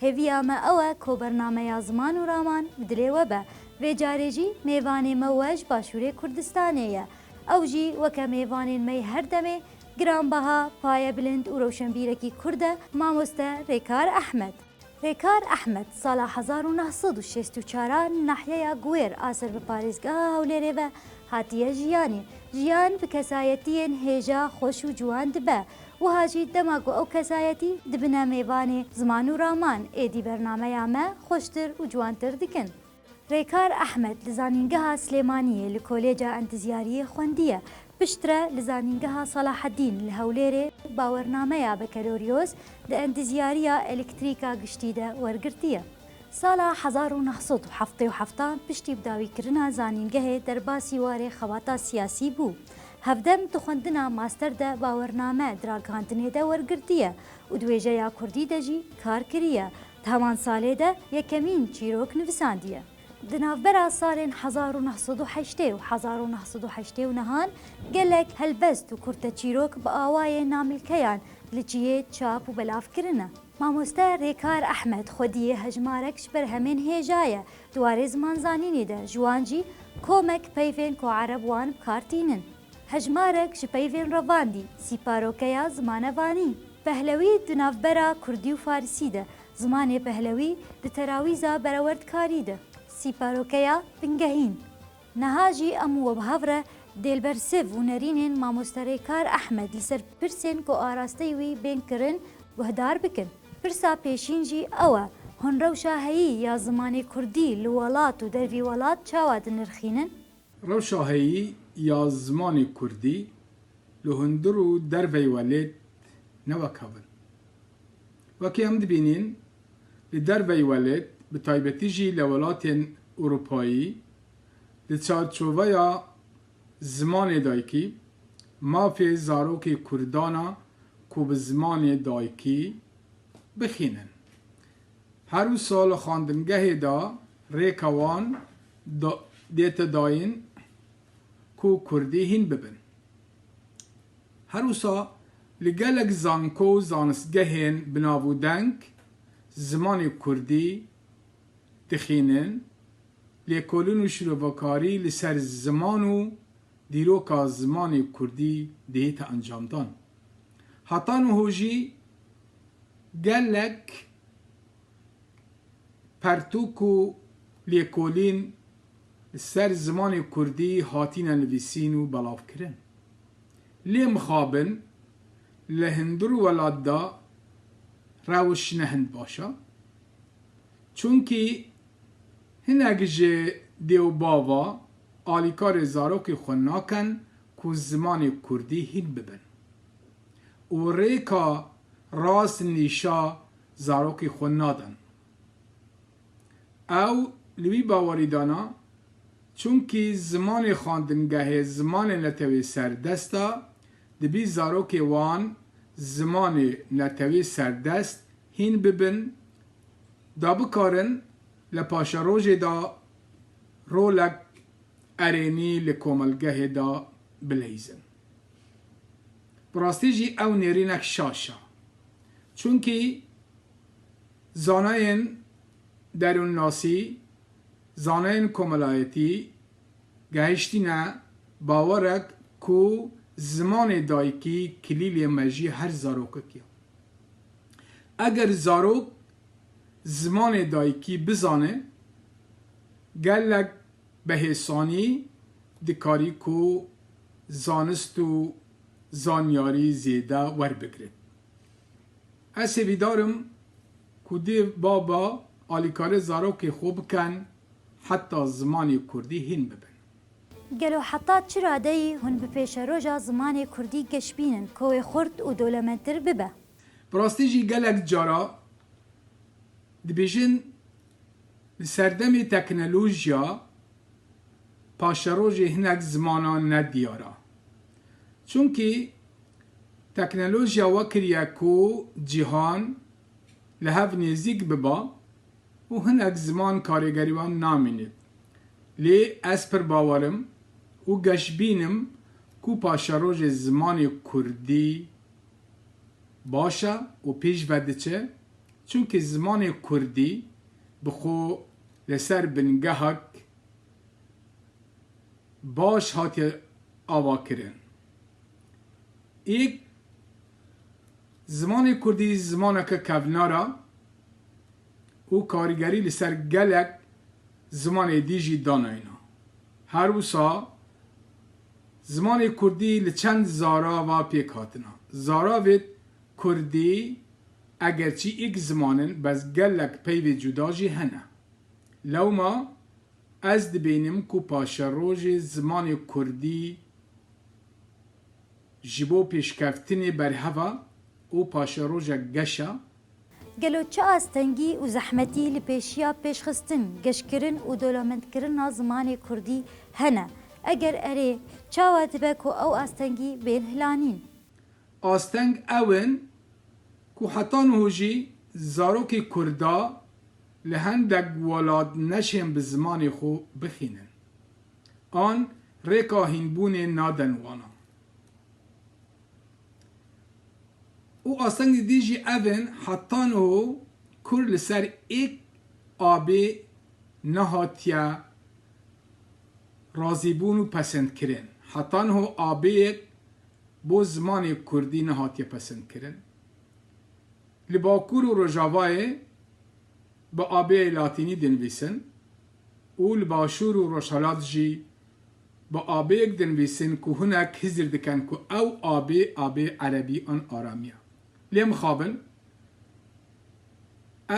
Hêviya me ew e ko bernameya ziman û raman bi dilê we be. Vê carê jî mêvanê me we ji Başûrê Kurdistanê ye. Ew jî weke mêvanên me yê her demê, giranbeha, payebilind û rewşenbîrekî Kurd e, mamoste Rêkar Ehmed. Rêkar Ehmed sala hezar û neh sed û şêst û çar a li nahyeya Guwêr a ser bi parêzgeha Hewlêrê ve hatiye jiyanê. Jiyan bi kesayetiyên hêja, xweş û ciwan dibe Wiha jî dema ku ew kesayetî dibine mêvanê ziman û raman êdî bernameya me xweştir û ciwantir dikin. Rêkar Ehmed li Zanîngeha Silêmaniyê li Kolêca Endizyariyê xwendiye, piştre li Zanîngeha Salaheddîn li Hewlêrê bawernameya Bekeloryoz di Endizyariya Elektrîka Giştî de wergirtiye. Sala hezar û neh sed û heftê û hefta piştî bidawîkirina zanîngehê derbasî warê xebata siyasî bû. Hevdem di xwendina master de bawername di ragihandinê de wergirtiye û di wêjeya kurdî de jî kar kiriye. Di heman salê de yekemîn çîrok nivîsandiye. Di navbera salên hezar û neh sed û heştê û hezar û neh sed û heştê û nehan gelek helbest û kurteçîrok bi awayê namilkeyan li cihê çap û belav kirine. Mamoste Rêkar Ehmed xwediyê hejmarek ji ber hemên hêja ye di warê zimanzanînê de, ji wan jî komek peyvên ku ereb wan bi kar tînin. Hejmarek ji peyvên revandî, sîparokeya zimanevanî. Pehlewî di navbera kurdî û farisî de, zimanê pehlewî di terawîza berewerdkarî de, sîparokeya bingehîn. Niha jî em û wibihav re dê li ber sêv û nerînên Mamosterêkar Ehmed li ser pirsên ku arasteyî wî bên kirin guhdar bikin. Pirsa pêşîn jî ew e, hûn rewşa heyî ya zimanê kurdî li welat û dervî welat çawa dinirxînin? Rewşa heyî ya zimanê kurdî li hundir û dervey welêt ne wek hev in. Wekî em dibînîn li dervey welêt bi taybetî jî li welatên Ewropayî Di çarçoveya zimanê dayikî, mafê zarokê Kurdan a ku bi zimanê dayikî bixînin. Her wisa li xwendingehê de rêka wan dête dayîn ku kurdî hîn bibin. Her wisa li gelek zanko û zanistgehên binavûdeng zimanê kurdî dixînin Lêkolîn û şîrovekarî li ser ziman û dîroka zimanê kurdî dihête encamdan. Heta niho jî gelek pertûk û lêkolîn li ser zimanê kurdî hatîne nivîsîn û belavkirin. Lê mixabin li hindir welat de rewş ne hind baş e. Çunkî hinek ji dêwbava alîkarê zarokê xwe nakin ku zimanê kurdî hîn bibin û rêka rast nîşa zarokê xwe nadin. Ew li wî bawerî dana çunkî zimanê xandingehê zimanê netewê serdest a, dibî zarokê wan zimanê netewê serdest Hîn bibin, da bikarin li paşerojê de rolek erênî li komelgehê de bileyzin. Bi rastî jî ew nêrînek şaş e. Çunkî zanayên derûnnasî, zanayên komelayetî gehiştîne bawerek ku zimanê dayikî kilîlê mejî her zarokek ye. Eger zarok zimanê dayikî bizane, gelek behêsanî dikarî ku zanist û zanyarî zêde werbigre. Ez sêvîdar im ku dê baba alîkare zarokê xwe bikin heta zimanê kurdî hîn bibin. Gelo heta çi radeyî hûn bi pêşeroja zimanê kurdî geş bînin ku wê xurt û dolementtir bibe? Bi rastî jî gelek cara dibêjin di serdemê teknolojiya paşerojê hinek zimanan ne diyar a. Çunkî teknolojiya we kiriye ku cîhan li hev nêzîk biba Û hinek ziman karêgerî wan namîne. Lê ez pir bawer im û geşbîn im ku paşerojê zimanê kurdî baş e û pêş ve diçe, çimkî zimanê kurdî bi xwe li ser bingehek baş hatiye avakirin. Ê Zimanê kurdî zimaneke kevnar e û karîgerî li ser gelek zimanê dî jî danayîna. Her wisa zimanê kurdî li çend zarava pêk hatina. Zaravêt kurdî egerçî îk ziman in bez gelek peyvê cuda jî hene. Lewma ez dibînim ku paşerojê zimanê kurdî Ji bo pêşkevtinê berheva û paşerojek geşa. Gelo çi astengî û zehmetî li pêşiya pêşxistin, geşkirin û dolamendkirina zimanê kurdî hene? Eger erê, çawa dibe ku ew astengî bên hilanîn? Asteng ew in ku heta niho jî zarokê kurda li hendek welat neşên bi zimanê xwe bixînin. An rêka hînbûnê naden wana. Û astengî dî jî ev in, heta niho Kurd li ser êk abê nehatiye razîbûn û pesendkirin. Heta niho abêyek bo zimanê Kurdî nehatiye pesendkirin. Li Bakur û Rojavayê bi abêyê Latînî dinivîsin. û li Başûr û Rojhelat jî bi abêyek dinivîsin ku hinek hizir dikin ku ew abê abê erebî an aramî ye. Lê mixabin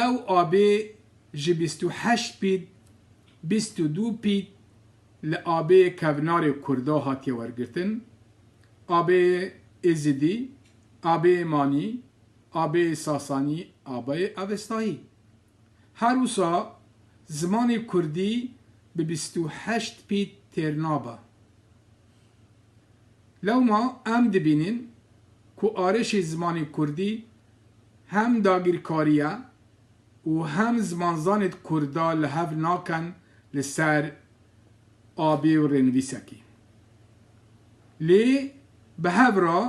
ew abê ji bîst û heşt pît, bîst û du pît li abêyê kevnarê Kurda hatiye wergirtin, abêyê Êzidî, abêyê Manî, abêyê Sasanî, abêyê Avestayî. Her wisa zimanê kurdî bi bîst û heşt pît têr nabe. Lewma em dibînin ku arêşê zimanê kurdî hem dagirkariye û hem zimanzanê kurda li hev naken li ser abê û rênivîsekî. Lê bi hev re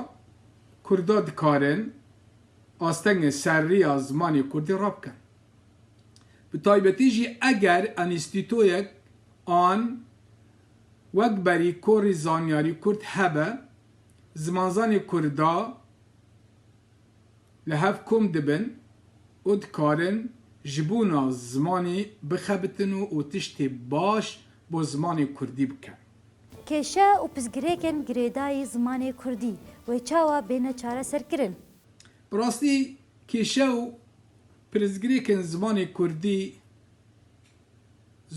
kurda dikarin. astengên serrîya zimanê kurdî rabikin. Bi taybetî jî eger enîstîtoyek an wek berî korî zanyarî kurd hebe, zimanzanê kurda li hev kom dibin û dikarin ji bûna zimanî bixebitin û tiştê baş bo zimanê kurdî bikin. Kêşe û pirsgirêkên girêdayî zimanê kurdî wê çawa bêne çareserkirin? Bi rastî kêşe û pirsgirêkên zimanê kurdî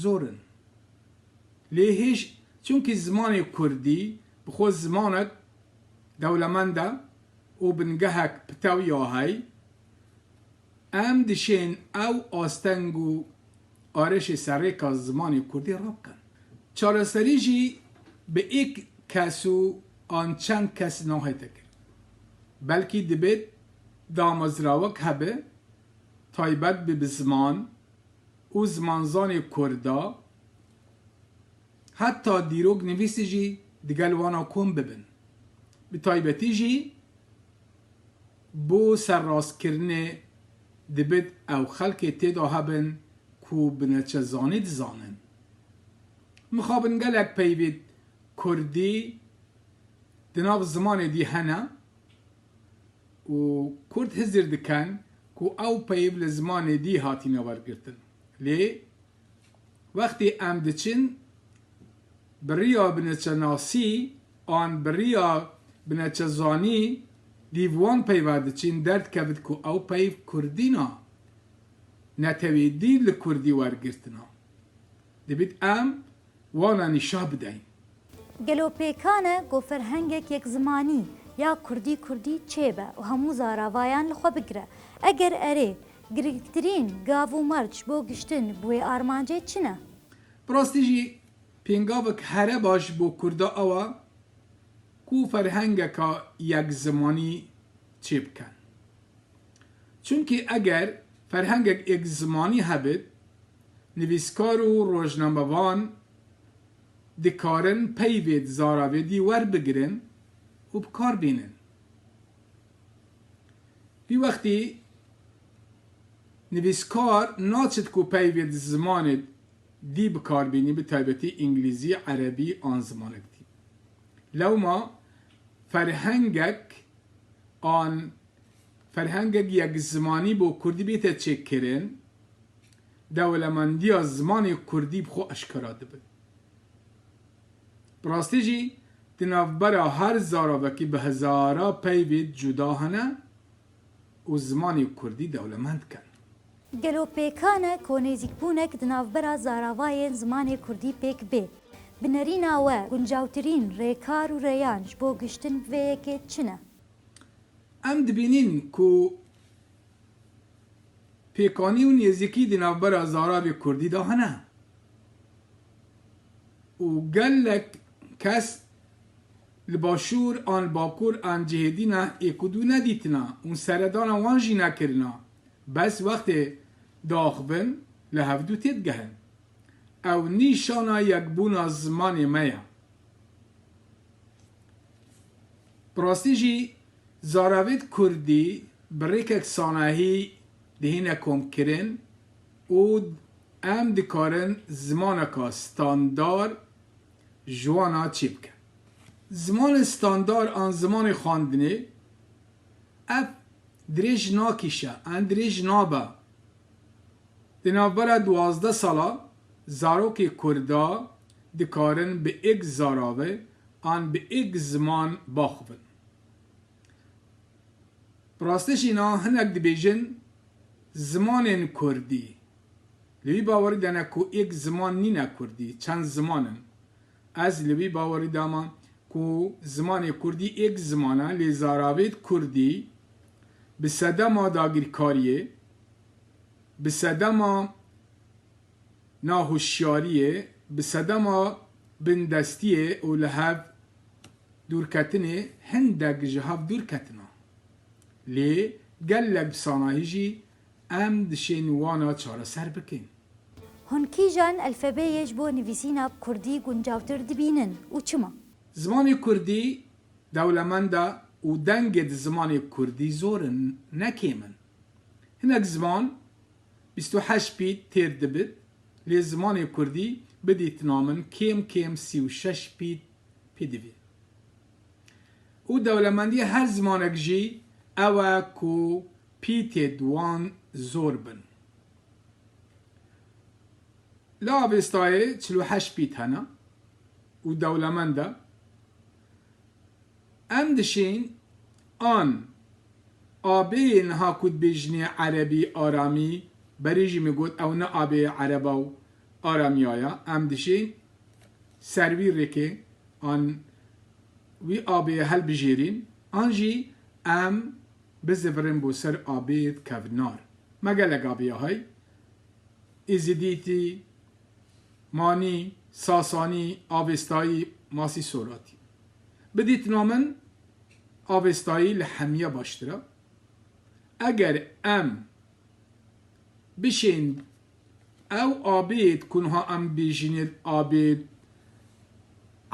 zor in. Lê hêj çimkî zimanê kurdî bi xwe zimanek dewlemend e û bingehek pitew ya heye, Em dişên ew asteng û arêşê serrêka zimanê kurdî rabikin. Çareserî jî bi êk kes û an çend kes nahête kirin. Belkî dibêt damezrawek hebe taybet be bi ziman û zimanzanê kurd de, heta dîroknivîsî jî digel wan a kom bibin. Bi taybetî jî Bo serrastkirinê dibit ew xelkê têda hebin ku bineçezanî dizanin. Mixabin gelek peyvîd kurdî di nav zimanê dî hene û kurd hizir diken ku ew peyv li zimanê dî hatîne wergirtin. Lê Wextê em diçin bi riya bineçenasî an bi riya bineçezanî dîv wan peyva diçin derdikevit ku ew peyv kurdî na, netewî dîv li kurdî wergirtina. Dibît em Wan anî şah bideyn. Gelo pêkan e ku ferhengek yekzimanî ya kurdî kurdî çêbe û hemû zaravayan li xwe bigire? Eger erê, girîngtirîn gav û merc bo giştin bi wê armancê çi ne? Bi rastî jî pêngavek here baş bo kurda ew e ku ferhengeka yekzimanî çêbikin. Çimkî eger ferhengek êkzimanî hebit, nivîskar û rojnamevan dikarin peyvê di zaravedî werbigirin û bi kar bînin. Vî wextî nivîskar naçit ku peyvê di zimanê dî bi kar bînî bi taybetî îngilîzî, erebî an zimanek dî. Lewma ferhengek an ferhengek yekzimanî bo kurdî bête çêkirin, dewlemendîya zimanê kurdî bi xwe eşkera dibe. Bi rastî jî di navbera her zaravekî bi hezara peyvê cuda hene û zimanê kurdî dewlemend dikin. Gelo pêkan e ku nêzîkbûnek di navbera zaravayên zimanê kurdî pêk bê? Bi nerîna we, guncawtirîn rêkar û rêyan ji bo gihiştin bi vê yekê çi ne? Em dibînin ku pêkanî û nêzîkî di navbera zaravê kurdî de hene û gelek kes li başûr an li bakur an cihêdî ne êkûdû nedîtina û seredana wan jî nekirina. Bes wextê diaxivin li hevdu têdigehin. Ew nîşana yekbûna zimanê me ye. Bi rastî jî zaravêt kurdî bi rêkek sanahî dihîne komkirin û em dikarin zimaneka standar ji wan a çêbikin. Zimanê standar an zimanê xwendinê, Ev dirêj nakîşe, an dirêj nabe. Di navbera duwazdeh sala zarokê kurd de dikarin bi êk zarave an bi êk ziman baxivin. Bi rastî jî na hinek dibêjin zimanên kurdî. Li wî bawerî de ne ku êk ziman nîne kurdî, çend ziman in. Ez li vî bawerî de me ku zimanê kurdî êk ziman e lê zaravêt kurdî bi sedema dagîrkariyê, bi sedema nahoşyariyê, bi sedema bindestiyê û li hev dûrketinê hindek ji hev dûr ketina. Lê gelek bi sanahî jî Em dişên wana çareser bikin. Hûn kîjan elfebeyê ji bo nivîsîna kurdî guncavtir dibînin û çima? Zimanê kurdî dewlemend e û dengê di zimanê kurdî zor in, ne kêm in. Hinek ziman bîst û heşt pît têr dibit, lê zimanê kurdî bidîtina min kêm kêm sî û şeş pît pî divî. Û dewlemendiyê her zimanek jî ew e ku Pîtê wan zor bin. Li Avêstayê çil û heşt pît hene û dewlemend e. Em dişîn an abeyê niha ku dibêjinê erebî, aramî, berî jî min got ew ne abeyê ereba û aramîya ye, em dişîn ser wî rêkê an wî abeyê helbijêrîn an jî em Bi zivirin bo ser abîd kevt nar. Me gelek abiya hey, Îzidîtî, Manî, Sasanî, Avêstayî, Masî Soratî. Bi dîtina min Avêstayî li hemîye baştir e. Eger em bişên Ew abêd ku niha em bêjîn ê abêd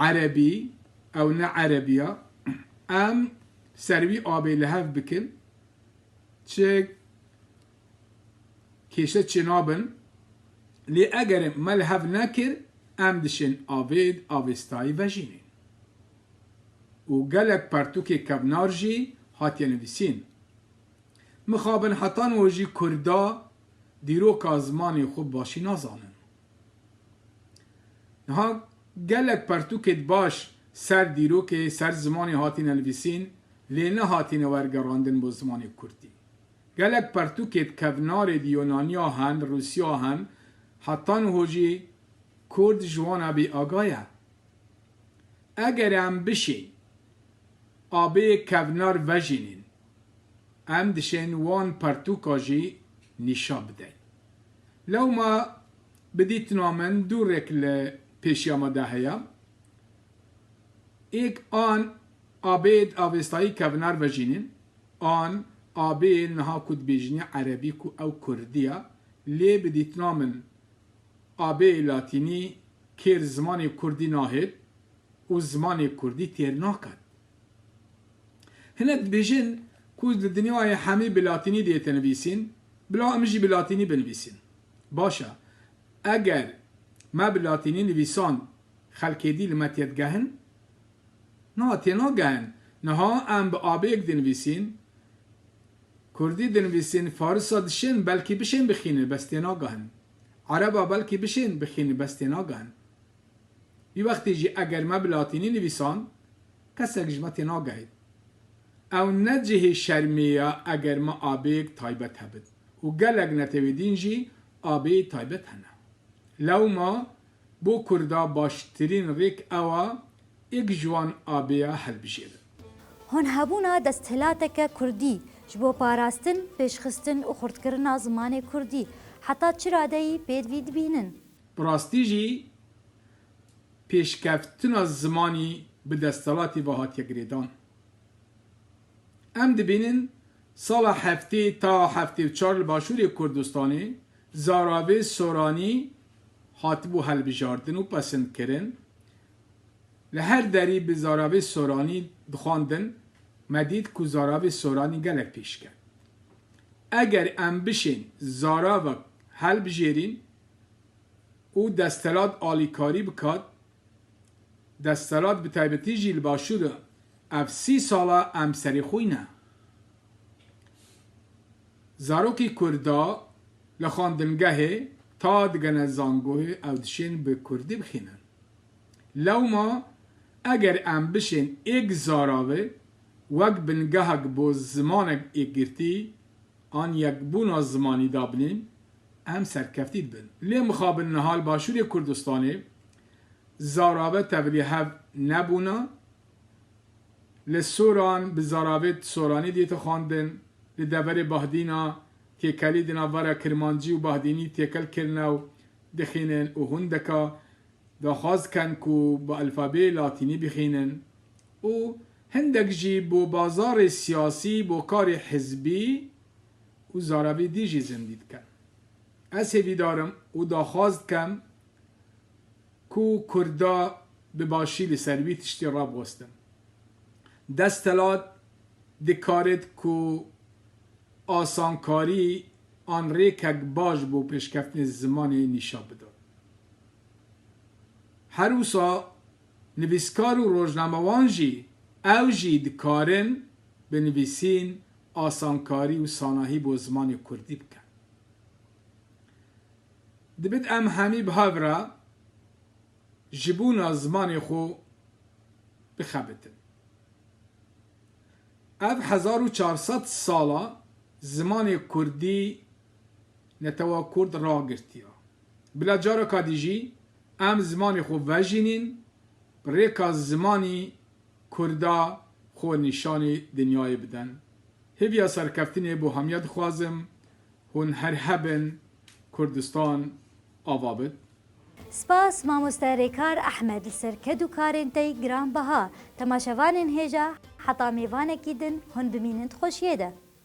erebî, ew ne erebî ya. Em ser wî abê li hev bikin, çi kêşe çê nabin. Lê eger me li hev nekir, em dişên abêd avêstayî vejînên. Û gelek pertûkê kevnar jî hatiye nivîsîn. Mixabin heta niha jî Kurda dîroka zimanê xwe bi başî nazanin. Niha gelek pertûkê di baş ser dîrokê, ser zimanê hatîne nivîsîn lê nehatîne wergerandin bo zimanê Kurdî. Gelek pertûkê di kevnarê di Yûnaniya hen, di Rûsiya hen heta niha jî Kurd ji wan a bêaga ye. Eger em bişên a bê kevnar vejînîn em dişên wan pertûka jî nîşa bideyn. Lewma bi dîtina min dû rêk li pêşiya me de heye. Êk an abêd avêstayî kevinar vejînîn, an abê niha ku dibêjînî erebî ku ew kurdî ye, lê bi dîtina min abê latînî kêr zimanê kurdî nahêt û zimanê kurdî têr naket. Hinek dibêjin ku li dinyayê hemî bi latînî dê tenivîsîn, bila em jî bi latînî binivîsîn. Baş e, eger me bi latînî nivîsan xelkê dî li me tê digehin? Na, tê nagehin. Niha em bi abêyek dinivîsîn, kurdî dinivîsîn, farisa dişên belkî bişên bixînin, bes tê nagehin. Ereba belkî bişên bixînin, bes tê nagehin. Vî wextê jî eger me bi latînî nivîsand, kesek ji me tênagehît. Ew ne cihê şermê ye eger me abêyek taybet hebin û gelek netewêdîn jî abêyê taybet hene. Lewma bo kurda baştirîn rêk ew a êk ji wan abêya hilbijêrin. Hûn hebûna desthilateke kurdî ji bo parastin, pêşxistin û xurtkirina zimanê kurdî heta çi radeyî pêdivî dibînin? Bi rastî jî pêşkevtina zimanî bi desthilatî ve hatiye girêdan. Em dibînin sala heftê ta heftê û çar li Başûrê Kurdistanê zaravê soranî hatibû hilbijardin û pesindkirin. Li her derî bi zaravê soranî dixwandin, me dît ku zaravê soranî gelek pêşket. Eger em bişên zaravek hilbijêrîn û desthilat alîkarî bikat, desthilat bi taybetî jî li Başûr de ev sî sal e em serî xwîn ne. Zarokî Kurd a li xwendingehê ta digene zangoyê ew dişên bi Kurdî bixwînin. Lewma eger em bişên êk zara ve wek bingehek bo zimanek êkgirtî an yekbûna zimanî dabinîn, em serkeftî dibin. Lê mixabin niha li Başûrê Kurdistanê zarave tevlî hev nebûna, li Soran bi zaravê soranî dîte xwendin, li deverê Bahdîna têkelî di navbera kirmancî û bahdînî têkel kirine û dixînin û hûndeka daxwaz dikin ku bi elfabeyê latînî bixînin û Hindek jî bo bazarê siyasî, bo karê hizbî û zaravî dî jî zindî dikin. Ez hêvîdarim û daxwaz dikem ku kurda bi başî li ser wî tiştî rabwestin. Destelat dikarit ku asankarî an rêkek baş bo pêşkeftinê zimanê nîşan bidin. Her wisa Nivîskar û rojnamewan jî ew jî dikarin bi nivîsîn asankarî û sanahî bo zimanê kurdî bikin. Dibit em hemî bi hev re ji bûna zimanê xwe bixebitin. Ev hezar û çar sed sal e zimanê kurdî netewa kurd ragirtiya. Bila careka dî jî Em zimanê xwe vejînîn, bi rêka zimanî Kurda xwe nîşanî dinyayê bidin. Hêviya serkeftinê bo hemiya dixwazim, hûn her hebin, Kurdistan ava bid. Spas mamoste Rêkar Ehmed li ser ked û karên te yî giranbeha. Temaşevanên hêja heta mêvanekî din hûn bimînin di xweşiyê de.